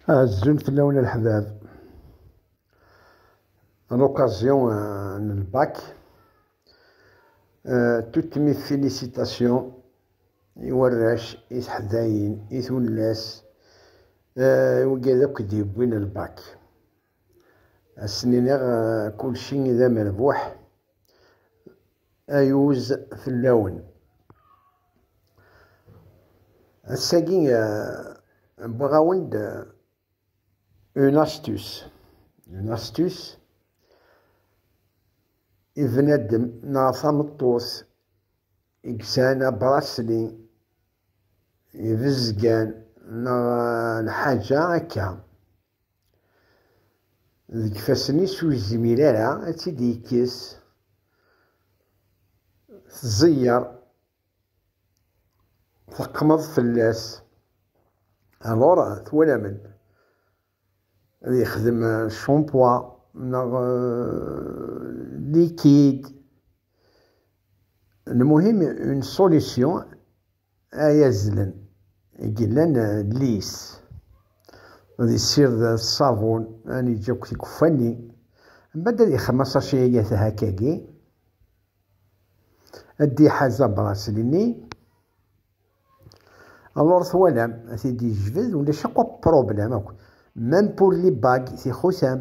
Azul fell-awen a leḥbab. À l'occasion euh, du bac, euh, toutes mes félicitations i warrac, i teḥdayin, i tullas, euh, i wigad akk d-yewwin lbak. Asen-iniɣ kulci i d amerbuḥ, ayuz fell-awen. Ass-agi wwiɣ-awen-d une astuce. Une astuce i bnadem neɣ tameṭṭut i yesɛan abrasli ibezgan neɣ lḥaǧa akka. deg ifassen-is ur yezmir ara ad tt-id-yekkes, tẓeyyer, teqmeḍ fell-as. Alors, twalamen, ad yexdem champoua neɣ liquide. Lmuhim, une solution ay azlen i yellan lis, ad yessired ṣṣabun, ad yeǧǧ akk tikuffa-nni, mbad ad yexdem asaci ay atahak-agi, ad d-iḥaz abrasil-nni, alors twalam, ad t-id-yejbed, ulac akk problème akk, même pour les bagues, tixutam.